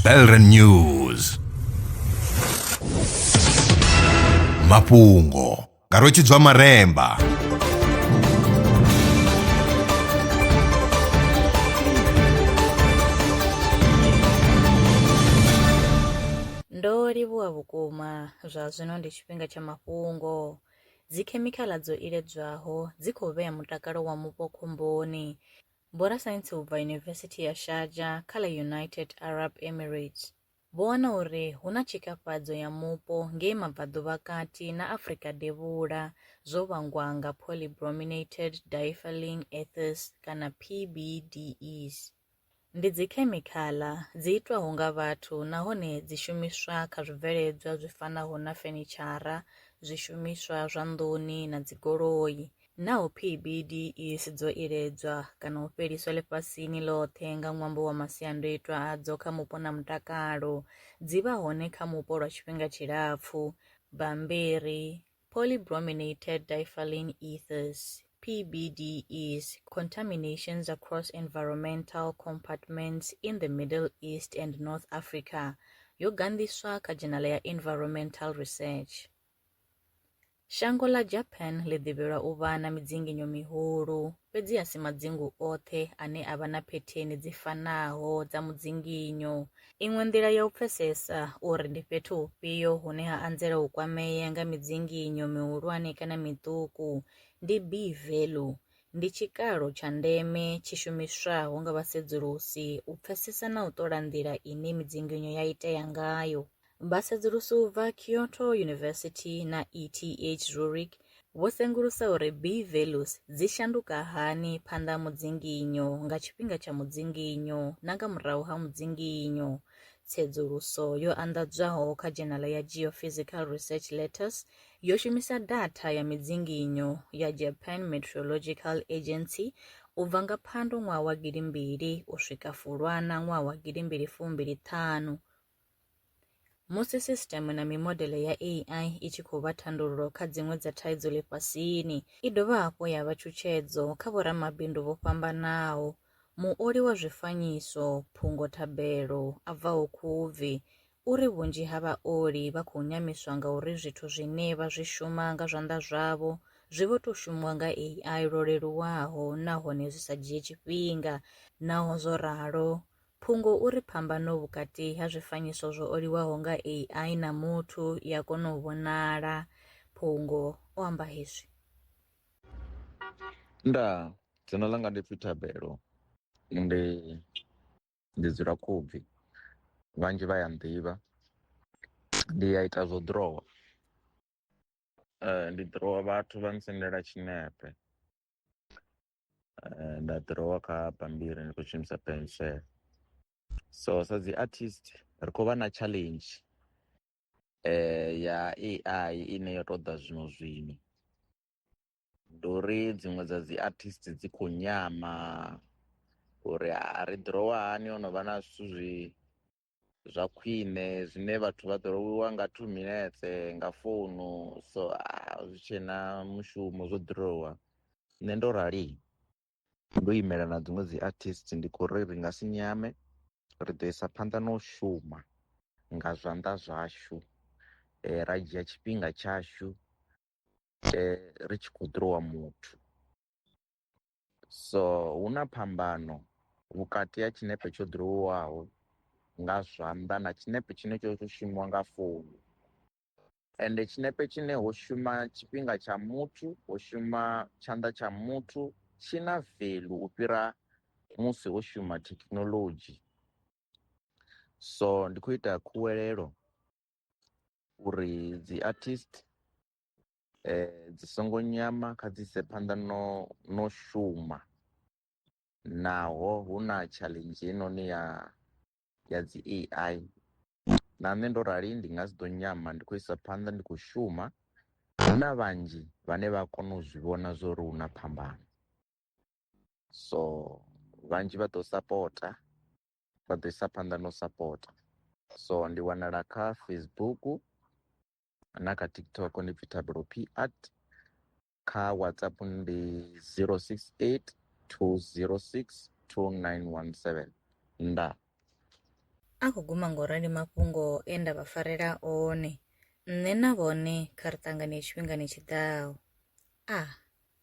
Belren News mafhungo nga rwetshidzwa maremba ndo livhuwa vhukuma zwa zwino ndi tshifhinga tsha mafhungo dzikhemikhala dzo iledzwaho dzi khou vhea mutakalo wa mupo khomboni Vhorasaintsi u bva Yunivesithi ya Sharjah kha ḽa United Arab Emirates vho wana uri hu na tshikafhadzo ya mupo ngei mabvaḓuvhakati na Afrika Devhula zwo vhangwa nga polybrominated diethylene ethers kana PBDEs. Ndi dzikhemikhala dzi itwaho nga vhathu nahone dzi shumiswa kha zwibveledzwa zwi fanaho na fenitshara, zwishumiswa zwa nḓuni na dzigoloi, Naa u pfi BD i si dzo iledzwa kana u fheliswa ḽifhasini ḽoṱhe nga ṅwambo wa masiandoitwa adzo kha mupo na mutakalo? Dzi vha hone kha mupo lwa tshifhinga tshilapfu. Bammbiri, Polybrominated diphylline ethers, PBDEs, Contaminations across environmental compartments in the Middle East and North Africa, yo ganḓiswa kha dzhenala ya Environmental Research. Shango ḽa Japan ḽi ḓivhelwa u vha na midzinginyo mihulu, fhedzi a si madzingu oṱhe ane a vha na phetheni dzi fanaho dza mudzinginyo. Iṅwe nḓila ya u pfesesa uri ndi fhethu hufhio hune ha anzela u kwamea nga midzinginyo mihulwane kana miṱuku ndi B-value. Ndi tshikalo tsha ndeme tshi shumiswaho nga vhasedzulusi u pfesesa na u ṱola nḓila ine midzinginyo ya itea ngayo. Vhasedzulusi u bva Kyoto University na ETH Zurich vho sengulusa uri B values dzi shanduka hani phanḓa ha mudzinginyo, nga tshifhinga tsha mudzinginyo na nga murahu ha mudzinginyo. Tsedzuluso yo anḓadzwaho kha dzhenala ya Geophysical Research Letters yo shumisa datha ya midzinginyo ya Japan Meteorological Agency u bva nga Phando ṅwaha wa gidimbili u swika Fulwana ṅwaha wa gidimbili fumbili ṱhanu Musi sisiṱeme na mimodeḽe ya AI i tshi khou vha thandululo kha dziṅwe dza thaidzo ḽifhasini, i dovha hafhu ya vha tshutshedzo kha vhoramabindu vho fhambanaho. Muoli wa zwifanyiso Phungo Thabelo a bvaho Khubvi u ri vhunzhi ha vhaoli vha khou nyamiswa nga uri zwithu zwine vha zwi shuma nga zwanḓa zwavho zwi vho tou shumiwa nga AI lwo leluwaho nahone zwi sa dzhie tshifhinga. Naho zwo ralo, Phungo u ri phambano vhukati ha zwifanyiso zwo oliwaho nga AI na muthu i a kona u vhonala. Phungo o amba hezwi. Ndaa, dzina ḽanga ndi pfi Thabelo, ndi ndi dzula Khubvi, vhanzhi vha ya nḓivha. Ndi a ita zwo ḓirowa, ndi ḓirowa vhathu vha ntsendela tshinepe, Eh, nda ḓirowa kha bambiri ndi khou shumisa pensel so sa dzi artist ri khou vha na challenge eh, ya ai ine yo ṱoḓa zwino zwino ndi uri dziṅwe dza dzi artist dzi khou nyama uri a ri ḓirowa hani o no vha na zwithu zwi zwa khwine zwine vhathu vha ḓo loliwa nga two minutes nga founu so ah, zwi tshe na mushumo zwo ḓirowa nṋe ndo rali ndo imela na dziṅwe dzi artist ndi khou ri ri nga si nyame ri ḓo isa phanḓa na u shuma nga zwanḓa zwashu eh, ra dzhia tshifhinga tshashu eh, ri tshi khou ḓirowa muthu So hu na phambano vhukati ha tshinepe tsho ḓirowiwaho nga zwanḓa na tshinepe tshine tsho tou shumiwa nga founu. Ende tshinepe tshine ho shuma tshifhinga tsha muthu, ho shuma tshanḓa tsha muthu tshi na value u fhira musi ho shuma thekinoḽodzhi. So ndi khou ita khuwelelo uri dzi artist eh, dzi songo nyama kha dzi ise phanḓa no no shuma naho hu na challenge heinoni ya ya dzi ai na nṋe ndo rali ndi nga si ḓo nyama ndi khou isa phanḓa ndi khou shuma hu na vhanzhi vhane vha kona u zwi vhona zwo ri hu na phambano so vhanzhi vha ḓo sapota vha ḓo isa phanḓa no sapota so ndi wanala kha facebook na kha tiktok ndi pfi tabelo p art kha whatsapp ndi 068 206 2917 nda a khou guma ngo rali mafhungo e nda vha farela one nṋe na vhone kha ri ṱangane tshifhingani tshiḓaho a ah.